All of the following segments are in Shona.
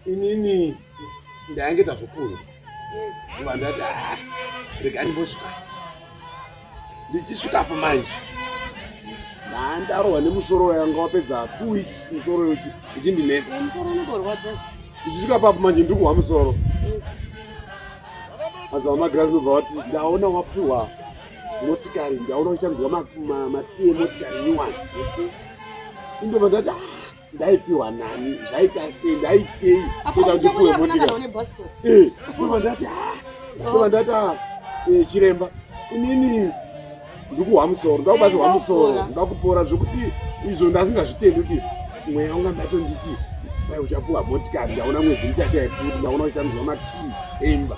inini ndainge ndazvokunza kuva ndati ah, rega ndimbosvika ndichisvikapo manje ndaandarohwa nemusoro yanga wapedza two weeks musoro yoki ichindinetsa ndichisvika papo manje ndiri kuhwa musoro mazava magirazi nobva wati ndaona wapiwa motikari ndaona uchitambirwa makii emotikari nyuwani indobva ndati ah, ndaipiwa nani zvaita sei ndaitei kuita kuti kuwe motikari eh, ndobva ndati ah, ndobva ndati ah, eh, chiremba inini ndikuhwa musoro ndakubatsirwa musoro ndakupora zvekuti izvo ndasingazvitendi kuti mweya unga ndatonditi kwai uchapuwa motikari ndaona mwedzi mutatu yaifuti ndaona uchitambizwa makii emba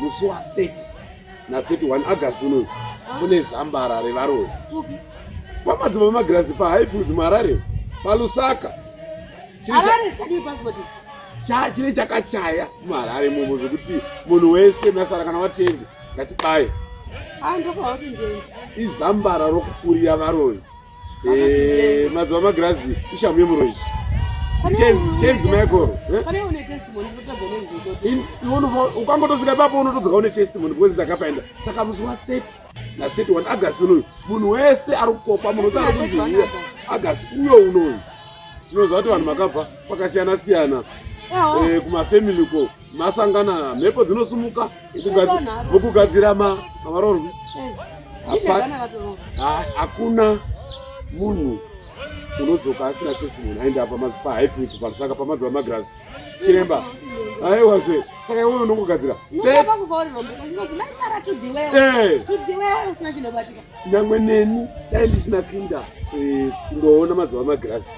musi wa 30 na 31 august unoyu kune zambara revaroyi pamadzimba magirazi pahighfield muharare palusaka chine chakachaya muharare momo zvekuti munhu wese nasara kana watende ngatibaye izambara rokukurira varoyi Eh, mazuva magirazi ishamu yemuroyi tenzi tenzi michael ukangotosvika ipapo unotodzoka une testimony because ndakapaenda saka musi wa 30 na 31 agast unoyu munhu wese ari kukokwa munhu wese ari kunziuya agast uyo unoyu tinoziva kuti vanhu makabva kwakasiyana siyana eh, kumafamily ko masangana mhepo dzinosumuka mukugadzira mavarorwi hakuna munhu unodzoka asina testimony aende apa pahaifiki pasaka pamadziva magirazi chiremba aiwa zve saka iwe unongogadzira nyangwe neni dai ndisina kinda eh, kundoona mazuva magirazi